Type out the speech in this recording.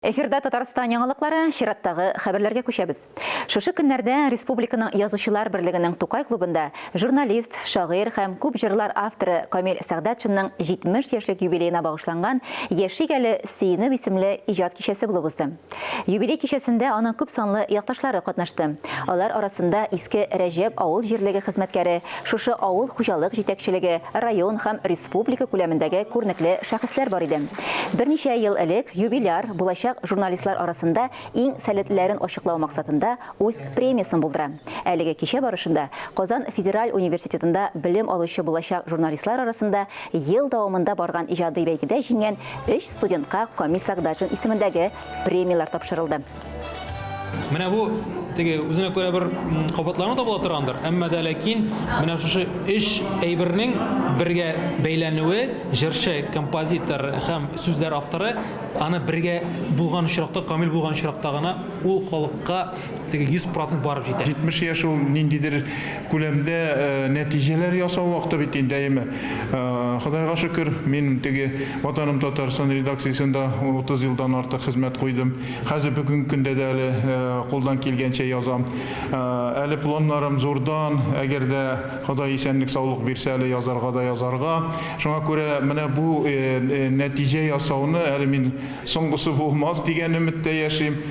Эфирда Татарстан яңалыклары, чираттагы хәбәрләргә күчәбез. Шушы көннәрдә республиканың Язучылар берлегенең Тукай клубында журналист, шагыйрь һәм күп җырлар авторы Камил Сәгъдәтшинның 70 яшьлек юбилеена багышланган Яшик әле, сөенеп исемле иҗат кичәсе булып узды. Юбилей кичәсендә аның күпсанлы якташлары катнашты. Алар арасында иске Рәҗәп авыл җирлеге хезмәткәре Шушы авыл хуҗалык җитәкчелеге, район һәм республика күләмендәге күренекле шәхесләр бар иде. Берничә ел элек юбиляр булачак журналистлар арасында иң сәләтлеләрен ачыклау максатында үз премиясен булдыра. Әлеге кичә барышында Казан федераль университетында белем алучы булачак журналистлар арасында ел дәвамында барган иҗади бәйгедә җиңгән өч студентка Камил Сәгъдатшин исемендәге премияләр тапшырылды. Менә бу теге үзенә күрә бер кабатлану да була торгандыр, әмма дә ләкин менә шушы өч әйбернең бергә бәйләнүе, җырчы, композитор һәм сүзләр авторы аны бергә булган очракта, камил булган очракта гына ул халыкка теге 100% барып җитә. 70 яшь ул ниндидер күләмдә нәтиҗәләр ясау вакыты бит инде, әйеме? Ходайга шөкер, мин теге Ватаным Татарстан редакциясендә 30 елдан артык хезмәт куйдым. Хәзер бүгенге көндә дә әле кулдан килгәнчә язам. Әле планнарым зурдан, әгәр дә Ходай исәнлек-саулык бирсә, әле язарга да язарга. Шуңа күрә менә бу нәтиҗә ясауны әле мин соңгысы булмас дигән өметтә яшим.